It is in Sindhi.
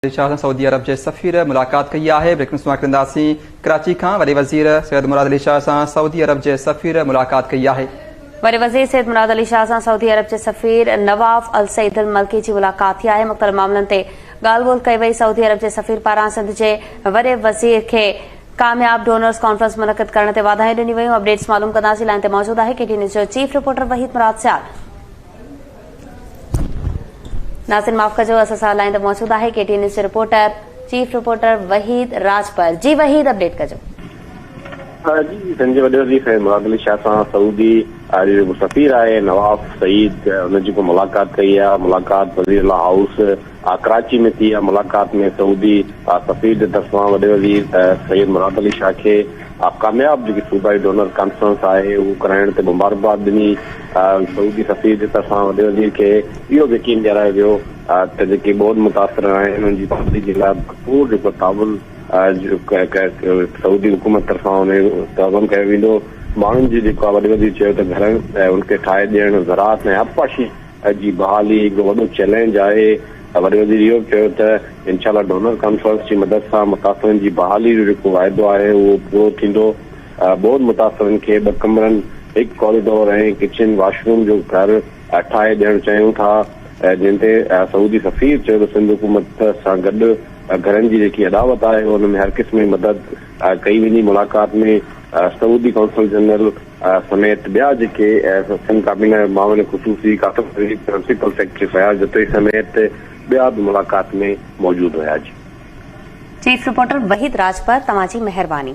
علي شاهه سان سعودي عرب جي سفير ملاقات ڪئي آهي، بريڪنگ نيوز سماعت ڪنداسين ڪراچي کان وڏي وزير سيد مراد علي شاهه سان سعودي عرب جي سفير ملاقات ڪئي آهي. وڏي وزير سيد مراد علي شاهه سان سعودي عرب جي سفير نواف السعيد الملڪي جي ملاقات ٿي آهي، مختلف معاملن تي ڳالهه ٻولهه ڪئي وئي، سعودي عرب جي سفير پاران سنڌ جي وڏي وزير کي ڪامياب ڊونرز ڪانفرنس منعقد ڪرڻ تي واڌايون ڏنيون ويون، اپڊيٽس معلوم ڪنداسين، لائين تي موجود آهي ڪي ٽي نيوز جو چيف رپورٽر وحيد مراد سيال. ناظرين معاف ڪجو اسان سان لائن تي موجود آهي ڪي ٽي نيوز جو reporter chief reporter Waheed Rajpar جي وحيد اپڊيٽ ڪجو جي سن جي وڏي وزير سيد مراد علي شاهه سان سعودي عرب جو سفير آهي نواف سعيد ان جي ڪو ملاقات ڪئي آهي ملاقات وزير لا هائوس ڪراچي ۾ ٿي اها ملاقات ۾ سعودي سفير جي طرفان وڏي وزير سيد مراد علي شاهه کي ڪامياب جيڪي صوبائي ڊونر ڪانفرنس آهي اهو ڪرائڻ تي مبارڪباد ڏني سعودي سفير جي طرفان وڏي وزير کي اهو به يقين ڏيارايو ويو ته جيڪي ٻوڏ متاثر آهن انهن جي بحالي جي لاء ڀرپور جيڪو تعاون سعودي حڪومت طرفان ان جو تعاون ڪيو ويندو ماڻهن جي جيڪو وڏي وزير چيو ته گهرن ان کي ٺاهي ڏيڻ زراعت ۽ آبپاشي اڄ جي بحالي هڪ وڏو چئلينج آهي، وڏي وزير اهو به چيو ته انشاء الله ڊونر ڪانفرنس جي مدد سان متاثرن جي بحالي جو جيڪو واعدو آهي اهو پورو ٿيندو، ٻوڏ متاثرن کي ٻه ڪمرن، هڪ ڪاريڊور ۽ ڪچن واش روم جو گهر ٺاهي ڏيڻ چاهيون ٿا، جنهن تي سعودي سفير چيو ته سنڌ حڪومت سان گڏ گهرن جي جيڪي اڏاوت آهي ان ۾ هر قسم جي مدد ڪئي ويندي، ملاقات ۾ سعودي قونصل جنرل. سميت ٻيا جيڪي سنڌ ڪابينا جا معاون خصوصي قاسم شريف، پرنسپل سيڪريٽري فياض جتوئي سميت ٻيا به ملاقات ۾ موجود هيا. چيف رپورٽر وحيد راجپر توهان جي مهرباني.